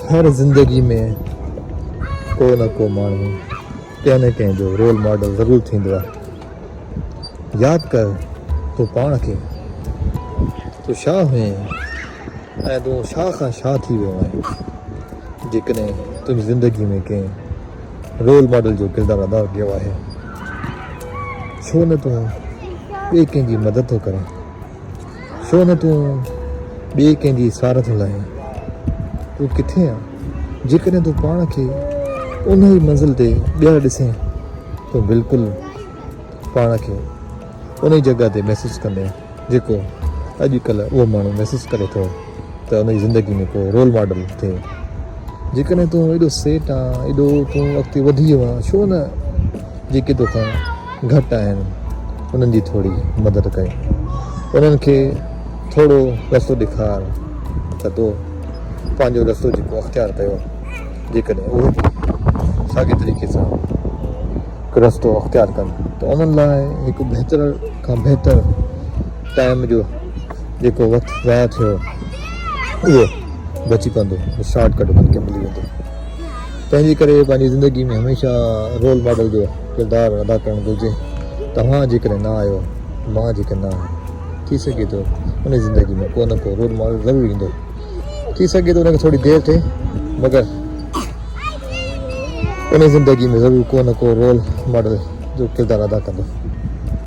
هر زندگي ۾ ڪو نه ڪو ماڻهو ڪنهن نه ڪنهن جو رول ماڊل ضرور ٿيندو آهي. ياد ڪر تون پاڻ کي. تون شاهه هئين ۽ تون شاهه کان شاهه ٿي ويو آهين. جيڪڏهن تنهنجي زندگي ۾ ڪنهن رول ماڊل جو ڪردار ادا ڪيو آهي ڇو نه تون ٻئي ڪنهن جي مدد ٿو ڪرين. ڇو نه تون ٻئي ڪنهن جي سار ٿو لاهين؟ تون ڪٿي آن؟ جيڪڏهن تون پاڻ کي انهيء منزل تي ٻيهر ڏسين تون بلڪل پاڻ کي انهيء جڳهه تي محسوس ڪندين جيڪو اڄ ڪلهه اهو ماڻهو محسوس ڪري ٿو ته انهيء زندگي ۾ ڪو رول ماڊل ٿئي. جيڪڏهن تون ايڏو سيٽ آن ايڏو تون اڳتي وڌي ويو آن ڇو نه جيڪي توکان گهٽ آهن انهن جي ٿوري مدد ڪر انهن کي ٿورو رستو ڏيکار ته تو پنهنجو رستو جيڪو اختيار ڪيو جيڪڏهن اهي به ساڳي طريقي سان رستو اختيار ڪن ته انهن لاء هڪ بهتر کان بهتر ٽائيم جو جيڪو وقت ضايع ٿيو اهو بچي پوندو شارٽ ڪٽ انهن کي ملي ويندو تنهن جي ڪري پنهنجي زندگي ۾ هميشه رول ماڊل جو ڪردار ادا ڪرڻ گهرجي، توهان جيڪڏهن نه آهيو، مان جيڪڏهن نه آهيان، ٿي سگهي ٿو ان جي زندگي ۾ ڪو نه ڪو رول ماڊل ضرور ايندو، ٿي سگهي ٿو ان کي ٿوري دير ٿئي مگر ان جي زندگي ۾ ضرور ڪو نه ڪو رول ماڊل جو ڪردار ادا ڪندو.